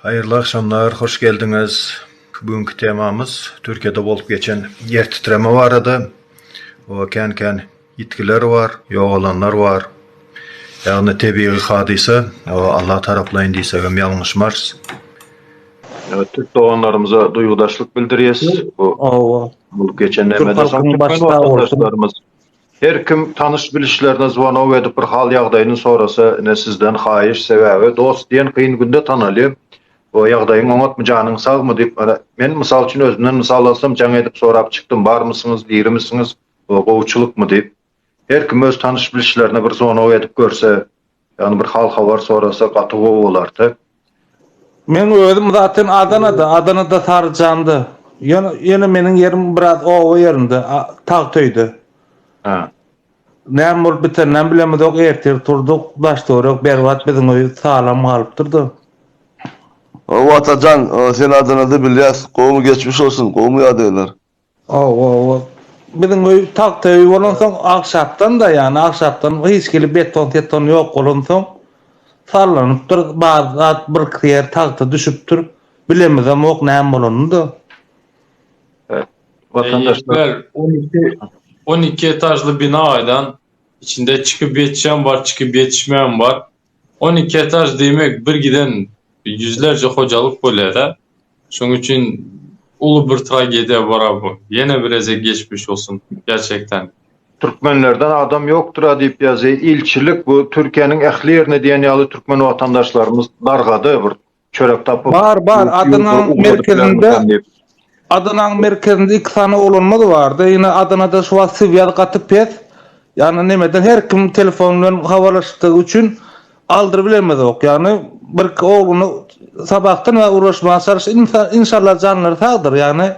Haýyrly agşamlar, hoş geldiňiz. Bu günki temamyz Türkiýede bolup geçen ýer titreme barada. O kän-kän ýitgiler bar, ýogalanlar bar. Ýagny tebigy hadysa, o Alla taraplaýyn diýsegem ýalňyşmarys. Ýöne türk doganlarymyza duýgudaşlyk bildirýäs. Bu Hawa. Bu geçen nämeden soň türkmen watandaşlarymyz her kim tanyş bilişlerine zwanok edip bir hal ýagdaýyny sorasa ine sizden haýyş sebäbi dost diýen kyn günde tanalýar we ýagdaýyň oňatmy janyň sagmy diýip ine men mysal üçin özümden mysal alsam jaň edip sorap çykdym barmysyňyz dirimisiňiz we gowuçylykmy diýip Her kim öz tanyş-bilişlerine bir zonog edip görse, ýagny bir hal-habar sorasa gaty gowy bolardy. Meň özüm zaten Adanada, Adanada Saryjanda. Ýöne, ýöne meniň ýerim biraz oba ýerinde, tagt öýde. Hä. Näme bolup biteninem bilemizok, ertir turduk, daş-töwerek berbat, biziň öý salam galypdyr-da. Hawa Atajan, sen Adanada bilýäs, gowumy geçmiş bolsun, gowumy ýadyglar? Hawa ol biziň öý tagta öý bolansoň agşapdan-da ýany agşapdan hiç hili beton seton ýok bolansoň sallanypdyr bar zat birki ýer tagta düşüpdir bilemizemok näme bolanyny-da. Watandaşlar on iki on iki etažly bina gaýdan içinde çykyp ýetişem bar çykyp ýetişmeýem bar On iki etaž diýmek bir giden ýüzlerçe hojalyk bolýada. Şoň üçin uly bir tragediýa bora bu. Ýene bir gezek geçmiş bolsun gerçekden. Türkmenlerden adam ýokdura diýip ýazýa ilçilik bu Türkiýäniň ähli ýerine diýen ýaly türkmen watandaşlarymyz dargady bir Çörek tapyp. Bar bar Adanaň merkezinde Adanaň merkezinde iki sany oglanmyz bardy ýene Adanada şu wagt siwýaz gaty pes ýagny nemeden her kim telefon bilen habarlaşykdygy üçin aldyryp bilemizok ýagny birki ogluny sabahdan bäri ugraşmaga çalyşdy inşallah janlary sagdyr ýagny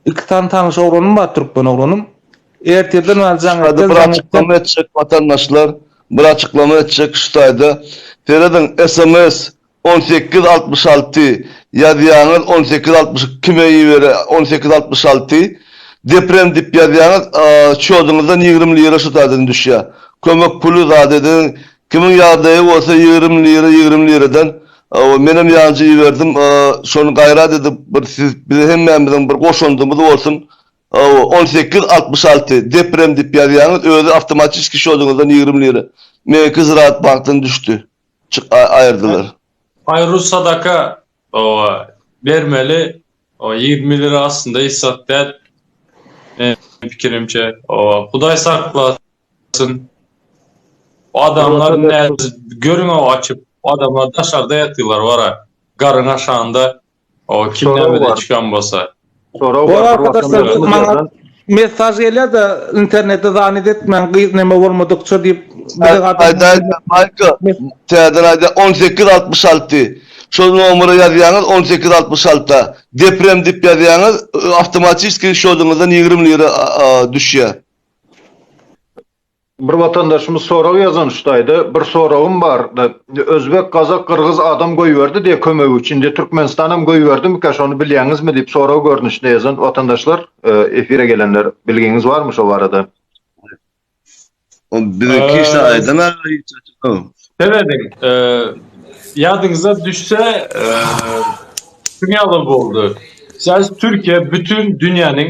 Iki sany tanyş oglanym bar türkmen oglanym. Ertirden bäri jaň etjek, jaň etjek. Bir açyklama etjek watandaşlar, bir açyklama etjek şu taýda. Serediň sms on sekiz altmyş alty ýazýaňyz on sekiz altmyş iki kime ibere on sekiz altmyş alty deprem dip ýazýaňyz çýodyňyzdan ýigrimi lira şu taýdan düşýä kömek puly zat edeniň Kimiň ýagdaýy bolsa ýigrimi lira ýigrimi liradan ow menem ýanjy iberdim şony gaýrat edip bir siz bize hemmämiziň bir goşandymyz bolsun ow on sekiz altmyş alty deprem dip ýazýaňyz özi awtomatiski şodyňyzdan ýigrimi lira meňki ziraat bankdan düşdi çyk aýyrdylar. Aý rus sadaka Oba bermeli o ýigrimi lira aslynda hiç zat däl meniň pikirimçe oba hudaý saklasyn adamlar görüň o açyp adamlar daşarda ýatyrlar bara garyň aşanda o kim näme üçin bolsa Sorag bar. Arkadaşlar maňa mesaj gelýär de internetde zannet etmäň gyz näme bolmadykça diýip. Maýka täze raýda 1866 şol nomera ýazýaňyz 1866 deprem diýip ýazýaňyz awtomatiski şodyňyzdan 20 lira düşýär. Bir watandaşymyz sorag ýazan şutaýda bir soragym bar özbek gazak gyrgyz adam goýberdi diýe kömegi üçin indi türkmenistanam goýberdimika şony bilýäňizmi diýip sorag görnüşinde ýazan watandaşlar efire gelenler bilgiňiz barmy şo barada. Serediň ýadyňyza düşse şuňýaly boldy siz türkiýe bütin dünýäniň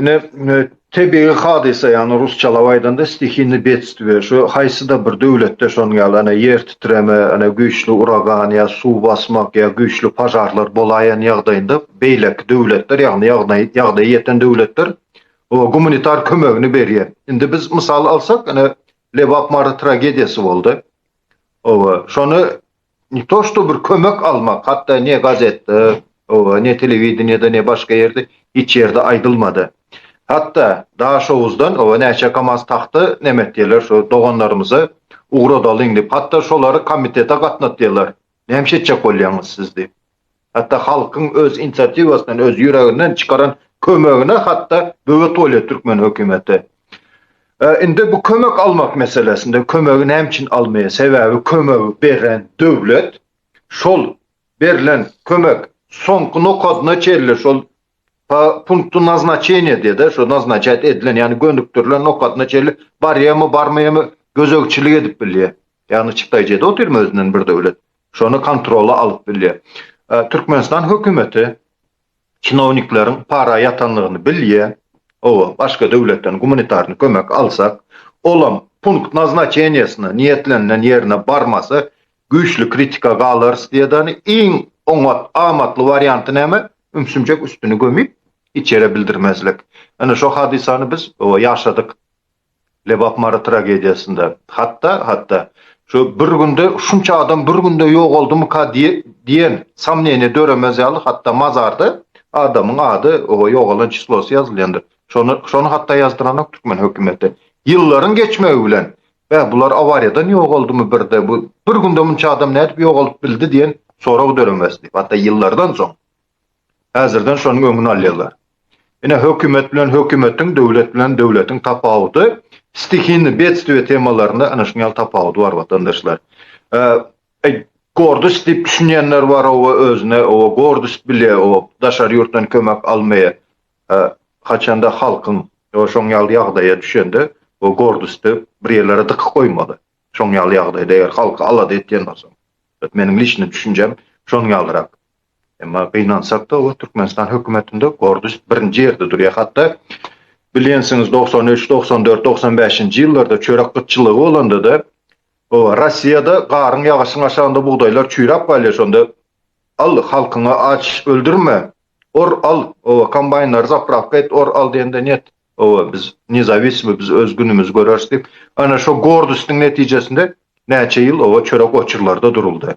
Ine, tebigy hadysa, ýagny rusçalap aýdanda stihinny betstvýe, şu haýsy-da bir döwletde şonuň ýaly, ene, ýer titreme, ene, güýçli uragan ýa suw basmak ýa güýçli požarlar bolaýan ýagdaýynda beýleki döwletler, ýagny ýagny ýagdaýy ýeten döwletler oňa gumanitar kömegini berýär. Indi biz mysal alsak, ene, Lebap Mary tragediýasy boldy. Oba, şony Ne to što bir kömek almak, hatda ne gazetde, oba, ne telewideniýede, ne başga ýerde, hiç ýerde aýdylmady. Hatda Daşoguzdan, oba, näçe kamaz tagta näme etýärler, şo doganlarymyza ugradalyň diýip, hatda şolary komitete gatnatýarlar. Näme etjek bolýaňyz siz diýip. Hatda halkyň öz inisiatiwasyndan, öz ýüreginden çykaran kömegine hatda böwet bolýar türkmen hökümeti. Indi bu kömek almak meselesinde kömegi näme üçin almaýar? Sebäbi kömegi beren döwlet şol berlen kömek soňky nokadyna çenli şol po punktu naznaçeniýa diýýär-de, şo naznaçat edilen, ýagny gönükdirilen nokadyna çenli barýarmy, barmaýarmy gözegçilik edip bilýär. Ýagny çykdaýjy edip otyrmy özünden bir döwlet? Şony kontrola alyp bilýär. Türkmenistan hökümeti çinownikleriň para ýatanlygyny bilýär. Oba, başga döwletden gumanitarny kömek alsak, olam punkt naznaçeniýesine niýetlenilen ýerine barmasa, güýçli kritika galarys diýedani, iň oňat, amatly warianty näme? Ümsümjek üstüni gömüp, hiç ýere bildirmezlik. Ine, şo hadysany biz, oba, ýaşadyk. Lebap Mary tragediýasynda hatda, hatda şo bir günde şunça adam bir günde ýogaldymyka diýen somneniýe döremez ýaly hatda mazarda adamyň ady we ýogalan çislosy ýazylýandyr. Şony, şony hatda ýazdyranok türkmen hökümeti. Ýyllaryň geçmegi bilen, Beh, bular awariýadan ýogaldymy birde, bu bir günde munça adam nädip ýogalyp bildi diýen sorag döremez diýip, hatda ýyllardan soň. Häzirden şonuň öňüni alýarlar. Ine, hökümet bilen hökümetiň, döwlet bilen döwletiň tapawudy stihini bedstwie temalarynda ana şuňal tapawudy bar, watandaşlar. Eý, gordyst diýip düşünýänler bar, oba özüne oba gordyst bilýä, oba daşary ýurtdan kömek almaýa. Haçanda halkyň şoň ýaly ýagdaýa düşende, o gordysty bir ýerlere dykyp goýmaly. Şoň ýaly ýagdaýda eger halky alada etýän bolsaň. Meniň liçni düşünjem şoň ýalyrak. Emma gynansakda bu Türkmenistan hökümetinde Gordiş birinji ýerde durýar. Hatda bilýänsiňiz dogsan üç, dogsan dört, dogsan bäşinji ýyllarda çörek gytçylygy bolandada oba Rossiýada garyň ýagyşyň aşagynda bugdaýlar çüýräp galýar şonda al halkyňy aç öldürme or al oba kombaýnlary zapravka et or al diýende net oba biz nezawismi biz öz günümizi göreris diýip ana şo Gordişdiň netijesinde näçe ýyl oba çörek oçurlarda duruldy.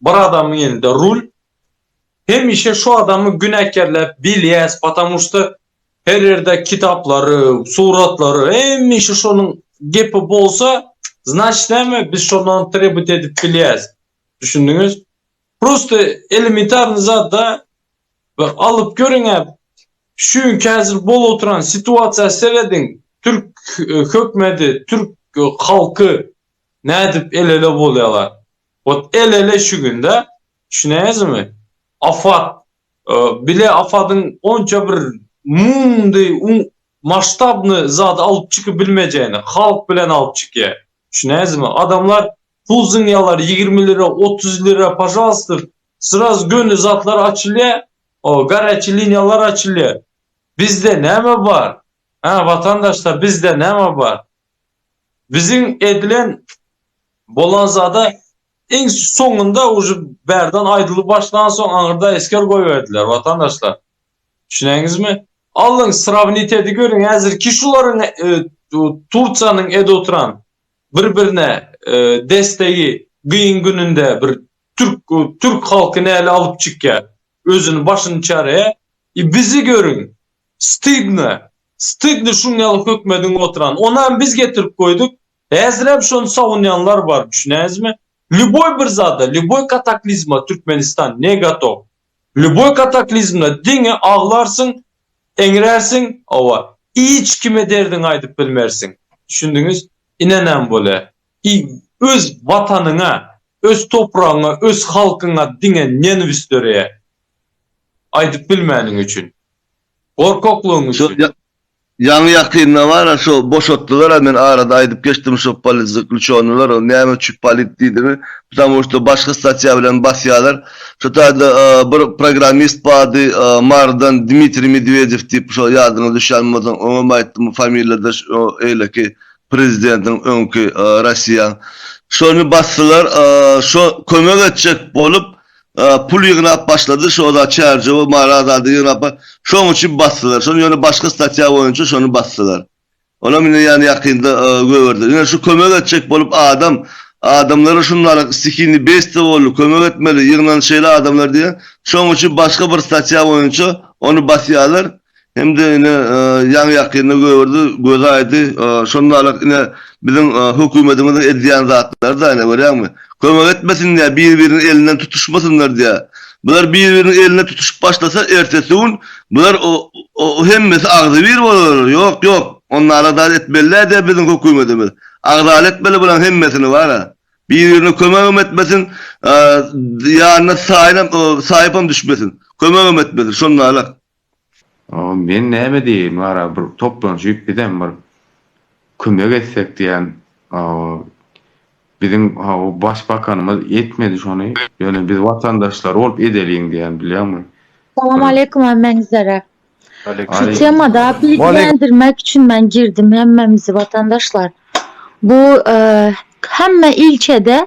Bir adamyň elinde rul hemişe şu adamy günäkerläp bilýäs patamu şda her ýerde kitaplary suratlary hemişe şonuň gepi bolsa znaçt näme biz şondan trebut edip bilýäs düşündiňiz prosta elementarny zadda bir alyp görüňä şu günki häzir bolup oturan situasiýa serediň türk hökmedi türk halky nädip elele bolýalar Ot elele şu günde düşüneňizmi afat bile afadyň onça bir mumdy maştabny zady alyp çykyp bilmejegini halk bilen alyp çykýa düşüneňizmi adamlar pul zyňýalar ýigrimi lira otuz lira pažalstyr sraz göni zatlar açylýa o garýaçy liniýalar açylýa bizde näme bar hä watandaşlar bizde näme bar Biziň edilen bolan zada iň soňunda uje bärden aýdylyp başlan soň aňyrda esger goýberdiler watandaşlar. Düşüneňizmi? Allyň srawnit edi görüň häzirki şularyň Tursiýanyň edi oturan bir birine destegi gyýyn gününde bir türk türk halky näle alyp çykýar. Özüni başyny çare i bizi görüň. Stydno. Stydno şuň ýaly hökmediň oturan. Onam biz getirip goýduk. Häzirem şony sawunýanlar bar düşünäňizmi. Lýuboý bir zada, lýuboý kataklizma Türkmenistan ne gotow. Lýuboý kataklizmda diňe aglarsyň, eňrärsiň, owa, iç kime derdiňi aýdyp bilmersiň. Düşündiňiz? Ine näme bolýar. Ki öz watanyňa, öz topragyňa, öz halkyňa diňe nenwis döreýär. Aýdyp bilmäniň üçin. Gorkaklygyň üçin. Şo ýaňy ýakynda bar-a şo boşatdylar-a men arada aýdyp geçdim şo politzaklýuçonylar ol näme üçin polit diýdimi ptamou şto başga statýa bilen basýalar şo taýda bir programmist bardy marydan Dmitriý Medwedew diýip şo ýadyňa düşýän bolsa oňam aýtdym familýada şo eýleki Prezidentiň öňki Rossiýa şony basdylar şo kömek etjek bolup pul ýygnap başlady şo zat çärjewi mara zady ýygnap şoň üçin basdylar şony ýöne başga statýa boýunça şony basdylar onam ine ýany ýakynda göberdiler ine şu kömek etjek bolup adam adamlara şuny alyk stihini besde boldy kömek etmeli ýygnan şeýle adamlar diýen şoň üçin başga bir statýa boýunça ony basýalar Hem-de ine ýaňy-ýakynda gögerdi, gözi aýdy. Şondalyk ine biziň hökümedimiziň edýän zatlary da ine görýäňmi? Kömek etmesin diýýär, bir-biriniň elinden tutuşmasynlar diýýär. Bular bir-biriniň elinden tutuşyp başlasa, ertesi gün bular hemmesi agzybir bolarlar. Ýok, ýok, onnalar zat etmeli däl diýýär biziň hökümedimiz. Agzaly etmeli bularyň hemmesini bar-a. Bir-birine kömegem etmesin, ýanyna taýynam, taýypam düşmesin. Kömegem etmesin. Şondalyk. Men näme diýeýin wara bir toplanşyp bizem bir kömek etsek diýän biziň başbakanymyz etmedi şony ýöne biz watandaşlary bolup edeliň diýän bilýäňmi. Salam aleýkum hemmäňizlere. Şu temada bilgilendirmek üçin men girdim hemmemizi watandaşlar. Bu hemme ilçede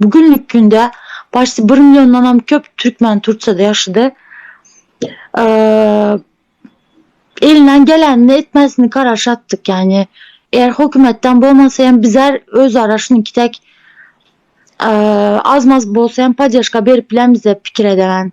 Bu günlük günde başda bir milliondanam köp türkmen Turkiýada ýaşady. Elinden gelenini etmezini garaşa atdyk. Ýagny eger hökümetden bolmasa hem bizler özara şunuňki dek az-maz bolsa hem poddežka berip bileris diýip pikir edemän.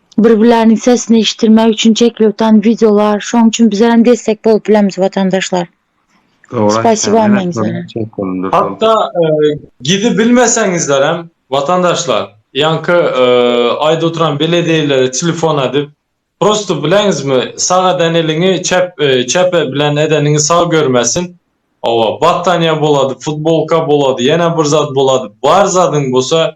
Bir-birleriniň sesini eşitdirmek üçin çekiliptan wideolar şoň üçin bizerem destek bolup bileris watandaşlar. Spasiba men sana. Hatda gidi bilmeseňizlerem watandaşlar ýanky aýda oturan belediýelere telefon edip prosto bileňizmi sag eden eliňi çep çep bilen edeniňi sag görmesin owa battanýa bolady futbolka bolady ýene bir zat bolady bar zadyň bolsa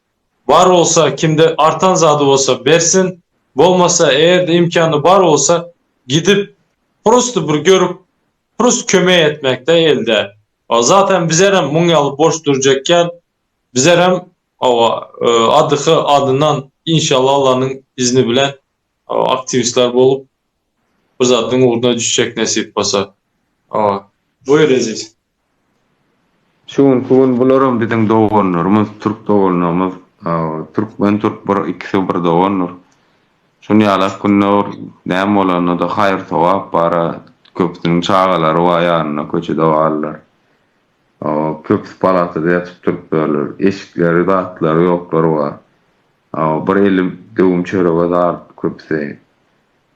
Bar bolsa kimde artan zady bolsa bersin, bolmasa eger-de imkany bar bolsa gidip prosto bir görüp prosto kömek etmekde elde. Zaten bizerem muň ýaly boş durjak ýal bizerem oba adyhy adyndan inşallah Allanyň izni bilen aktiwistler bolup bir zadyň ugruna düşjek nesip bolsa. Oba. Buýur Eziz. Şu günki gün bularam biziň doganlarymyz, türk doganlarymyz, türkmen türk bir ikisi bir dogandyr. Şun ýalak günler näme bolanda-da haýyr sogap bara köpüsiniň çagalary bar ýanynda köçede galdylar. Köpüsi palatada ýatyp turupdyrlar. Eşikleri zatlary ýoklary bar. Bir elim döwüm çörege zar köpüsi.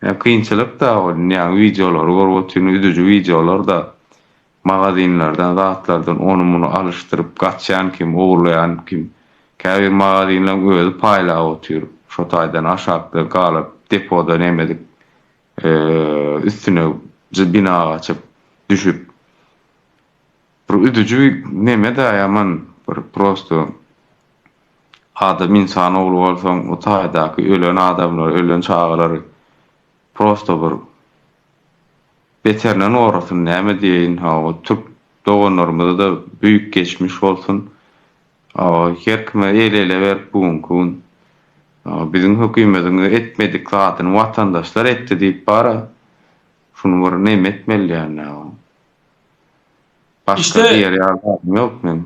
Ýa kynçylyk da ol ýa wideolary görüp otyryn üzüji wideolar da magazinlerden zatlardan ony muny alyşdyryp gaçýan kim ogurlaýan kim käbir magazinleň özi paýlap otyr şo taýdan aşakda galyp depoda nemedik üstüne jy bina gaçyp düşüp bir üzüji neme da ýaman bir prosto Adam ynsan ogly bolsaň bu taýdaky ölen adamlary ölen çagalary prosto bir beterinden gorasyn näme diýeýin hawa türk doganlarymyzada büýük geçmiş bolsun hawa her kime el ele berip bu günki gün hawa biziň hökümediň etmedik zadyny watandaşlar etdi diýip bara şuny bir neme etmeli ýaly hawa başga diýer ýaly zadym ýok meniň.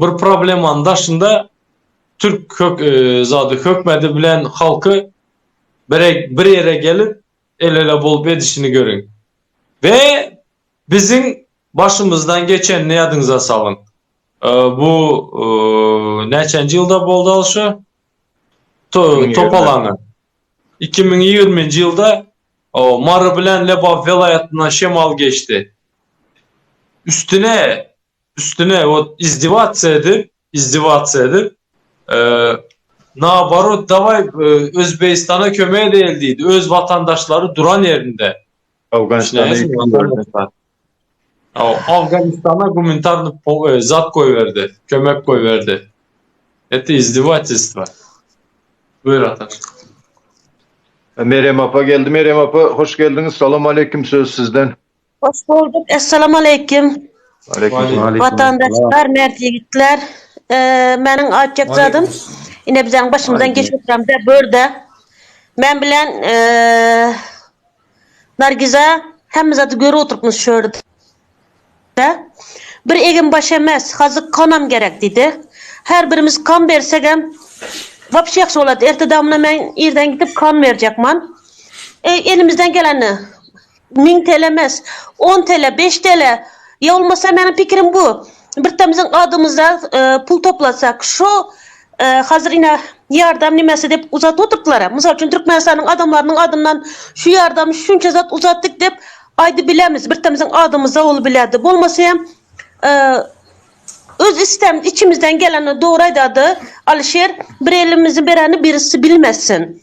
Bir problemanyň daşynda türk zady hökmedi bilen halky bir ýere gelip el-ele bolup edişini görüň we biziň başymyzdan geçenini ýadyňyza salyň. Bu näçenji ýylda boldy al şu topalaňy? Iki müň ýigrimi nji ýylda Mary bilen Lebap welaýatyndan şemal geçdi. Üstüne, üstüne wot izdiwatsiýa edip, izdiwatsiýa edip, naoborot dawaý Özbegistana kömek edäýeli diýdi, öz watandaşlary duran ýerinde. Awganystana ýüz tutuldy. Afganistana gumintarny zat goýberdi, kömek goýberdi. Eti izdiwatistwa. Buyur ata. Merem apa geldi Merem apa hoş geldiňiz Salam aleýkim söz sizden. Hoş bolduk Essalam aleýkim. Watandaşlar mert ýigitler meniň aýtjak zadym ine bizäň başymyzdan geçip oturan bir börde men bilen Nargiza, Hemme zady görüp oturypmyz şu ýerde. Bir eginbaş emes, hazyk konam gerek, diýdi. Her birimiz kon bersegem, wapşe ýagşy bolardy. Erte damyna men irden gidip kon berjekman. Elimizden gelende, müň tele emes, on tele, beş tele, ýa bolmasa, meniň pikirim bu, Bir tamyzyň adymyza pul toplasak, şo hazir ine ýardam nimesi dep uzadyp oturdylar-a. Mysal üçin Türkmenistanyň adamlarynyň adyndan şu ýardamy şunça zat uzatdyk dep aýdyp bilermiz. Bir tamyzyň adymyza bolup bilerdi. Bolmasa hem öz istem içimizden geleni dogry aýdady Alişer, bir elimizi bereni birisi bilmesin.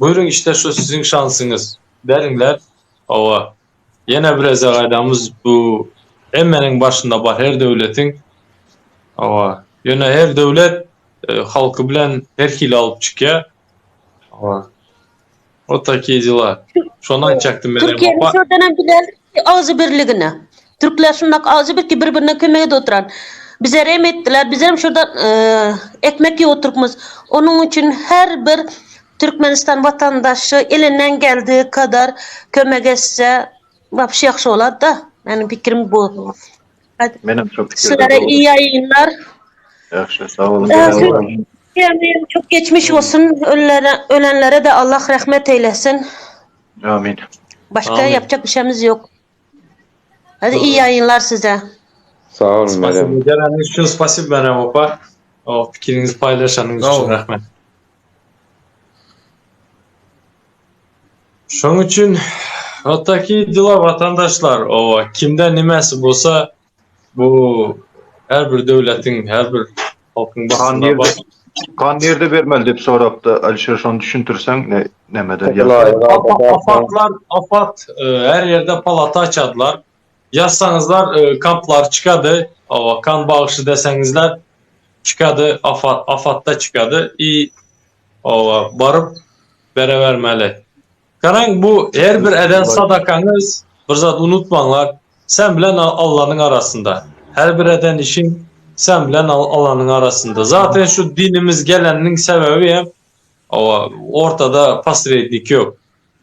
Buýruň işte şu siziň şansyňyz. Beriňler. Hawa. Ýene bir ezagaýdamyz bu hemmeniň başynda bar her döwletiň. Hawa. Ýöne her döwlet halky bilen her hili alyp çykýa. Hawa. Ot taki dela. Şony aýtjakdym menem. Türkiýäniň şodanam bilelik ki agzybirligine. Türkler şundak awjy bir ki bir birine kömek edip oturan. Bize rehm etdiler bizem şurda ekmek ýyp oturykmyz. Onuň üçin her bir Türkmenistan watandaşy elinden geldiği kadar kömek etse wapşe ýagşy bolarda. Meniň pikirim bu. Menem şo pikirde. Sizlere iyi ýaýynlar. Ýagşy sag boluň. Çok geçmiş olsun ölülere ölenlere de Allah rahmet eylesin. Amin. Başka yapacak bir şeyimiz yok. Hadi iyi yayınlar size. Sag bolun Meryem. Geleniňiz üçin spasibo Meryem opa. O pikiriňizi paýlaşanyňyz üçin rahmet. Şoň üçin otaki dila watandaşlar. Owa, kimde nimesi bolsa Bu her bir döwletiň, her bir halkyň başynda bar. Gan nirde bermeli dep sorapda Alişer şony düşüntirseň nämeden ýa. Apat her ýerde palata açadylar. Ýazsaňyzlar kamplar çykady. Hawa kan bagşy deseňizler çykady afat afatda çykady i hawa baryp berebermeli. Garaň bu her bir eden sadakaňyz bir zat unutmaňlar sen bilen Allanyň arasynda her bir eden işiň sen bilen Allanyň arasynda zaten şu dinimiz geleniniň sebebi hem owa ortada posrednik ýok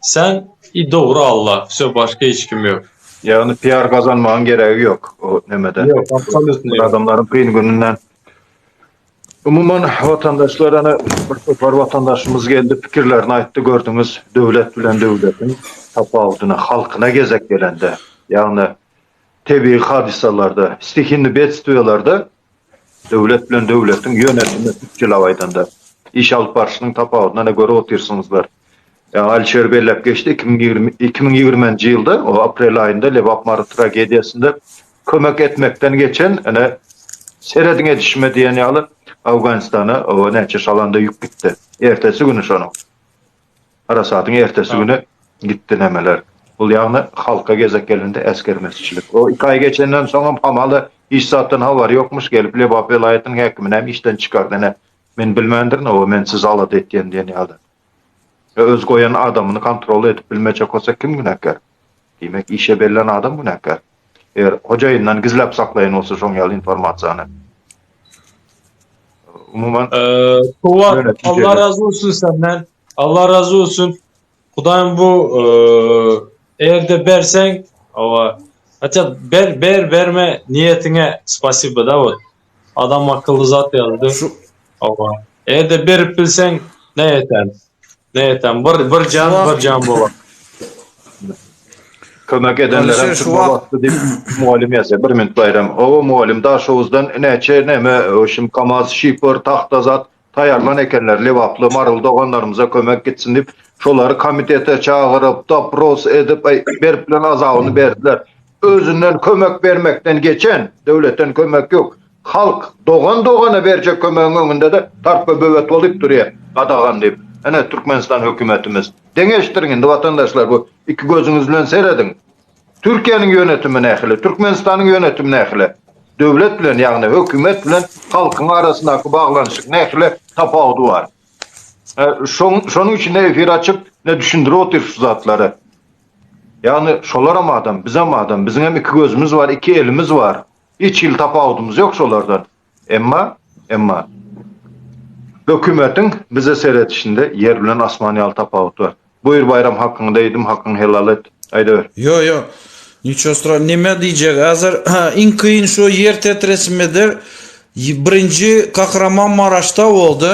sen i dogry Alla vsё başga hiç kim ýok. Ýagny PR gazanmagyň geregi ýok o nemede. Ýok absolutno ýok. Adamlaryň kyn gününden. Umuman watandaşlar ana bir topar watandaşymyz geldi pikirlerini aýtdy gördüňiz döwlet bilen döwletiň tapawudyny halkyna gezek gelende ýagny tebigy hadysalarda stihinni bedstwiýalarda döwlet bilen döwletiň ýönetimi türkçelap aýdanda iş alyp barşynyň tapawudyny ana görüp otyrsyňyzlar ýa Alişer belläp geçdi iki müň ýigrimi iki müň ýigrimenji ýylda o aprel aýynda Lebap Mary tragediýasynda kömek etmekden geçen ine serediň edişime diýen ýaly Awganistana oba näçe şalanda ýük gitdi. Ertesi güni şonuň. Harasatyň ertesi güni gitdi nemeler. Bul ýagny halka gezek gelende äsgermezçilik. O iki aý geçenden soňam hamala hiç zatdan habary ýokmuş gelip Lebap welaýatynyň häkimini hem işden çykardy ine. Men bilmändirin oba men sizi alada etýän diýen ýaly. Öz goýan adamyny kontrol edip bilmejek bolsa kim günäkär? Diýmek, işe bellän adam günäkär. Eger hojaýyndan gizläp saklaýan bolsa şoň ýaly informasiýany. Umuman, Allah razy bolsun senden. Allah razy bolsun. Hudaýym bu erde berseň, owa, haçan ber, ber, berme niýetiňe spasiba da bol. Adam akylly zat ýazdy. Şu Hawa. Ede berip bilseň ne etem. Ne etem. Bir bir jan bir jan bolar. Kömek edenlerem şu wagtdy diýip mugallym ýazýar. Bir minut Baýram. Hawa mugallym Daşoguzdan näçe näme şum kamaz şifor tahta zat taýarlan ekenler lebaply Maryly doganlarymyza kömek gitsin diýip şolary komitete çagyryp dopros edip berip bilen azabyny berdiler özünden kömek bermekden geçen döwletden kömek ýok halk dogan dogana berjek kömegiň öňündede tarpba böwet bolup durýar gadagan diýip ene Türkmenistan hökümetimiz deňeşdiriň indi watandaşlar bu iki gözüňiz bilen serediň. Türkiýäniň ýönetimi nähili, Türkmenistanyň ýönetimi nähili? Döwlet bilen, ýagny hökümet bilen halkyň arasyndaky baglanyşyk nähili, tapawudy bar. Şonuň üçin ne efir açyp, ne düşündirip otyr şu zatlary. Ýagny şolaram adam, bizem adam, biziňem iki gözümiz bar, iki elimiz bar. Hiç hili tapawudymyz ýok şolardan. Emma, emma, hökümetiň bize seredişinde ýer bilen asman ýaly tapawut bar. Buýr Baýram hakyňda eýdim, hakyňy helal et, aýdaber. Ýo, ýo, niço stra, nime diýjek hazir, ha, iň kyn şo ýer tetresimidir, birinji Kahramanmaraşda boldy.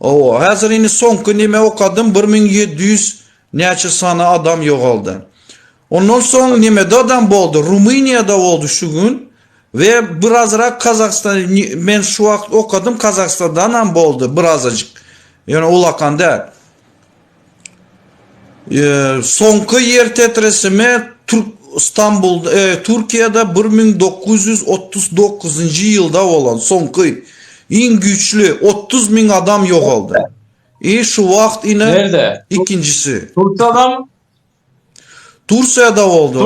Owo, häzir indi soňky nime okadym, bir müň ýedi ýüz näçe sany adam ýogaldy. Ondan soň nimede adam boldy, Rumyniýada boldy şu gün we birazrak Kazahstan, men şu wagt okadym Kazahstandanam boldy birazajyk, ýöne ulakan däl. Soňky ýer tetresime Türkiýede bir müň dokuz ýüz otuz dokuzynjy ýylda bolan soňky iň güýçli otuz müň adam ýogaldy. I şu wagt ine ikinjisi. Tursiýada boldy o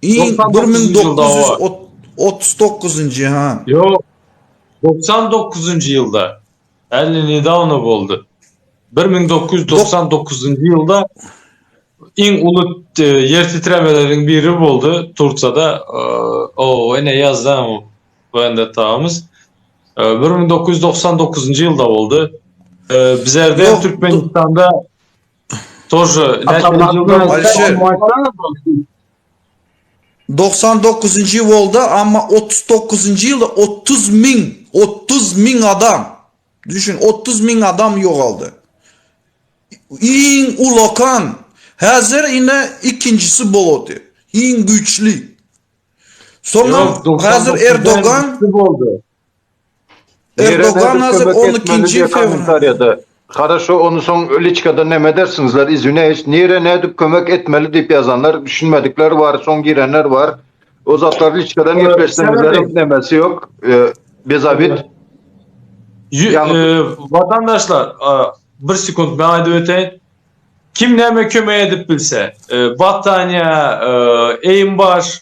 iň bir müň dokuz ýüz otuz dokuzynjy ha. Ýok doksan dokuzynjy ýylda. Äli nedawno boldy. Bir müň dokuz ýüz togsan dokuzynjy ýylda iň uly e, ýer titremeleriň biri boldy Turkiýada. E, o, ene ýazdan Wende taýmys. E, bir müň dokuz ýüz togsan dokuzynjy ýylda boldy. Bizlerde Türkmenistanda Тоже. Doksan dokuzynjy ýyl boldy, amma otuz dokuzynjy ýylda otuz müň, otuz müň adam, düşün, otuz müň adam ýogaldy. Iň ulakan, häzir ine ikinjisi bolady, iň güýçli. Soňam häzir Erdogan. Erdogan hazır 12-nji fewralda. Haraşo ony soň liçkada neme edersiňizler izwineýiş nire nädip kömek etmeli diýip ýazanlar düşünmedikler bar soň girenler bar o zatlar liçkadan gepleşseňizler nemesi ýok bezabit watandaşlar bir sekunt men aýdyp öteýin kim näme kömek edip bilse battaniýa eýim baş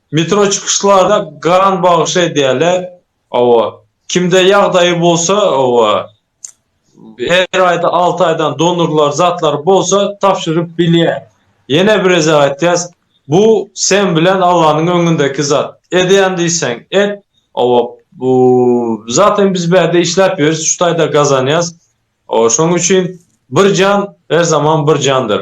Metro çykyşlara gan bagş edýärler owo kimde ýagdaýy bolsa owo her aýda alty aýdan donorlar zatlary bolsa tabşyryp bilýä ýene birezä aýtýas bu sen bilen allanyň öňündeki zat edýän diýseň et owo bu zaten biz bärde işläp ýörüs şu taýda gazanýas owo şoň üçin bir jan her zaman bir jandyr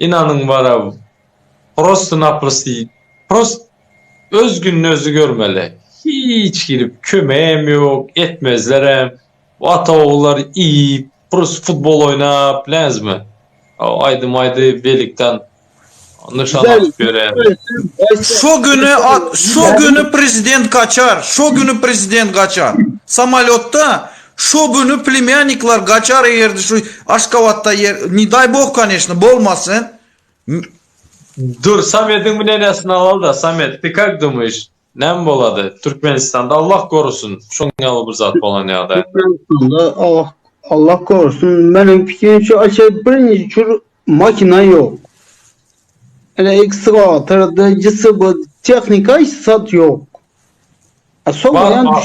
Ynanyň baraw prosto naprosto prost öz gününi özi görmeli hiç girip köme hem ýok etmezler hem bu ata ogullar iýip prosto futbol oýnap bileňizmi o aýdym aýdy belikdan nyşan atyp ýören. Şo güni şo güni prezident gaçar şo güni prezident gaçar samolýotda Şo güni plemýannikler gaçar egerdi şu Aşgabatda ýer ne daý boh kaneşno bolmasyn. Dur Samediň mnenesini alal-da, Samet, ty kak dumyş, näme bolady? Türkmenistanda Allah gorusyn, şoň ýaly bir zat bolan ýagdaý. Türkmenistanda Allah Allah gorusyn, meniň pikirimçe aşa birinji çür makina ýok. Ene ekskavator da jsb tehnika hiç zat ýok. A soň Bar, bar.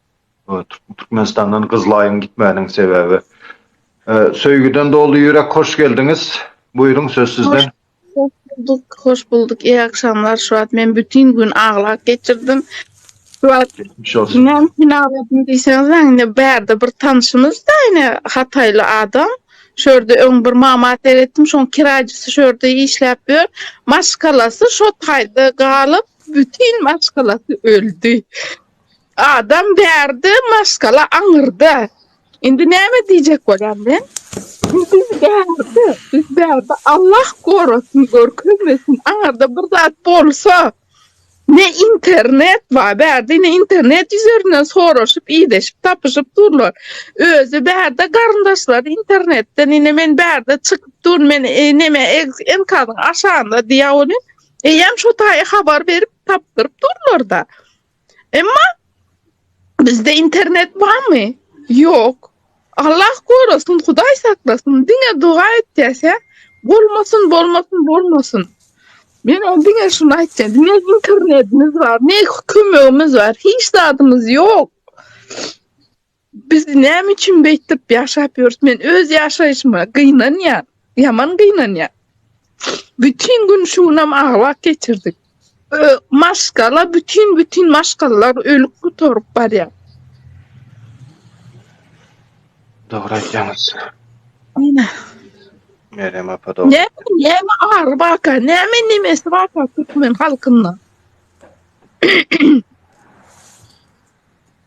Türkmenistandan gyzlaýyň gitmäniniň sebäbi. Söýgüden doly ýürek hoş geldiňiz. Buýruň söz sizden. Hoş bulduk, hoş bulduk. Eý agşamlar şu wagt men bütin gün aglap geçirdim. Şu wagt Geçmiş olsun. inem kinaladym diýseňizem indi bärde bir tanşymyz da ine hataýly adam. Şu ýerde öň bir mama seretdim şoň kiraýjysy şu ýerde işläp ýör. Maşgalasy şo taýda galyp bütin maşgalasy öldi. Adam bärde maskala aňyrda. Indi näme diýjek bolýan men? Biz bärde, biz bärde Allah gorasyn görkezmesin aňyrda bir zat bolsa ne internet bar bärde ne internet ýüzerinden soraşyp ideşip tapyşyp durlar. Özi bärde garyndaşlary internetden ine men bärde çykyp dur men neme enkadyň aşagynda diýä ony eýýäm şo taýy habar berip tapdyryp durlarda. Emma bizde internet barmy? Ýok. Allah gorasyn, Hudaý saklasyn, diňe doga etýäse, bolmasyn, bolmasyn, bolmasyn. Men o diňe şuny aýtýan, diňe internetimiz bar, ne kömegimiz bar, hiç zadymyz ýok. Biz näme üçin beýtip ýaşap ýörüs? Men öz ýaşaýşyma gynanýan, ýaman gynanýan. Bütin gün şu günam aglak geçirdik. Maşgala bütin bütin maşgalalar ölüp gutaryp barýar. Dogry aýtýaňyz. Ine. Merem apa dogry. Ne, näme ary baka, näme nemesi baka türkmen halkynda.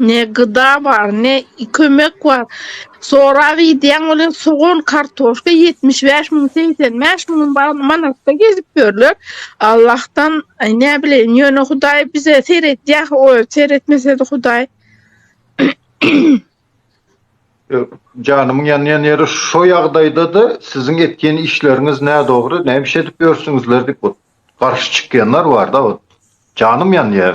Ne gyda bar, ne kömek bar. Sorap iýdýäň welin sogan, kartoşka ýetmiş bäş müň, segsen bäş müň manatda gezip ýörler. Allahdan näbileýin, ýöne Hudaý bize seredýär, oý, seretmese-de Hudaý. Janymyň ýanýan ýeri şo ýagdaýda-da siziň etýän işleriňiz nädogry, näme iş edip ýörsüňizler diýip Garşy çykýanlar bar da ot. Janym ýanýar.